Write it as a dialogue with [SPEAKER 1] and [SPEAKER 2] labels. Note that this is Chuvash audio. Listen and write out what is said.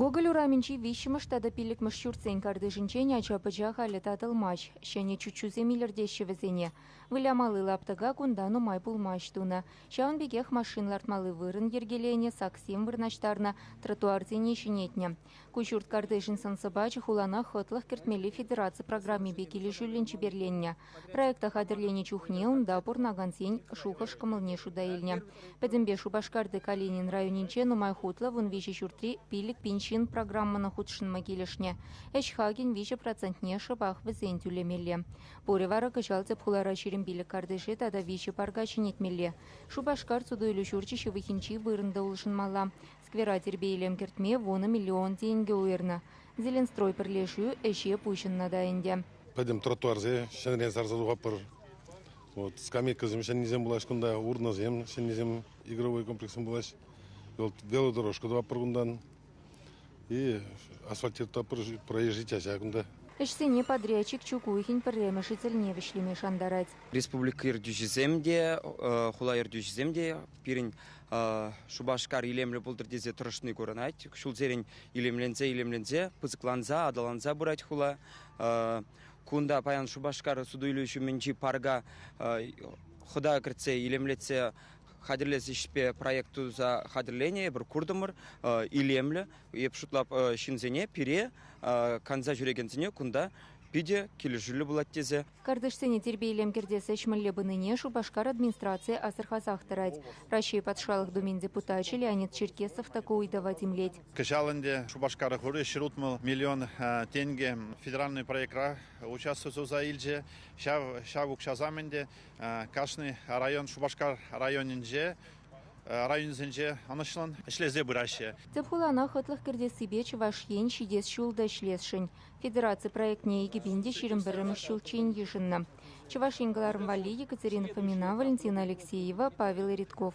[SPEAKER 1] Гоголь урамӗнчи виҫҫӗмӗш тата пиллӗкмӗш ҫуртсен картишӗнчен ача-пӑча халӗ татӑлмасть. Ҫӗнӗ чуччусем илӗртеҫҫӗ вӗсене. Вылямалли лаптӑка кунта нумай пулмасть тунӑ. Ҫавӑн пекех машин лартмалли вырӑн йӗркеленӗ, саксем вырнаҫтарнӑ, тротуарсене ҫӗнетнӗ. Куҫҫурт картишӗн сӑн-сӑпачӗ хулана хӑтлӑх кӗртмелли федераци программипе килӗшӳллӗн чиперленнӗ. Проекта хатӗрленӗ чухне унта пурӑнакансен шухӑш-кӑмӑлне шута илнӗ. Пӗтӗмпе Шупашкарти Калинин районӗнче нумай хутлӑ вун виҫӗ ҫуртри «Пилӗк пин ҫын» программӑна хутшӑнма килӗшнӗ. Ӗҫ хакӗн виҫӗ процентне шӑпах вӗсен тӳлемелле. Пурӗ вара кӑҫал тӗп хулара ҫирӗм пилӗк картише тата виҫӗ парка ҫӗнетмелле. Шупашкар суту-илӳ ҫурчӗ ҫывӑхӗнчи вырӑн та улшӑнмалла. Сквера тирпей-илем кӗртме вунӑ миллион тенкӗ уйӑрнӑ. Зеленстрой пӗрлешӳ ӗҫе пуҫӑннӑ та ӗнтӗ. Пӗтӗм тротуарсем
[SPEAKER 2] ҫӗнӗрен сарса тухатпӑр. Вот скамейкӑсем ҫӗннисем пулаҫ кунта, урнӑсем ҫӗннисем, игровой комплекссем пулаҫ. Вот велодорожка тӑватпӑр кунтан. И асфальтироватпӑр проезжий чаҫа кунта. Ӗҫсене
[SPEAKER 1] подрядчик Чукухин пӗрремӗшӗ тӗлне вӗҫлеме шантарать. Республика
[SPEAKER 3] ертӳҫисем те, хула ертӳҫисем те пирӗн Шупашкар илемлӗ пултӑр тесе тӑрӑшни курӑнать. Ҫулсерен илемленсе-илемленсе, пысӑкланса, аталанса пырать хула. Кунта паян Шупашкар суту-илӳ ҫумӗнчи парка хӑта кӗртсе илемлетсе хатӗрлес ӗҫпе проект туса хатӗрленӗ эпир куртӑмӑр илемлӗ. Эп шутлап ҫынсене пире канса ҫӳрекенсене кунта питӗ килӗшӳллӗ пулать тесе Картишсене тирпей-илем
[SPEAKER 1] кӗртес ӗҫ мӗнле пынине Шупашкар администрацийӗ асӑрхасах тӑрать. Раҫҫей Патшалӑх Думин депутачӗ Леонид Черкесов та ку ыйтӑва тимлет. Кӑҫал ӗнтӗ Шупашкар
[SPEAKER 4] хури ҫӗр утмӑл миллион тенкӗ федеральнӑй проектра участок туса илчӗ. Ҫав укҫасем ӗнтӗ кашни район Шупашкар районӗнче районӗсенче ӑнӑҫлӑн ӗҫлесе пыраҫҫӗ. Тӗп хулана хӑтлӑх
[SPEAKER 1] кӗртессипе Чӑваш Ен ҫитес ҫул та ӗҫлесшӗн. Федераци проектне икӗ пин те ҫирӗм пӗрремӗш ҫулччен йышӑннӑ Чӑваш Ен кӑларӑм валли Екатерина Фомина, Валентина Алексеева, Павел Редков.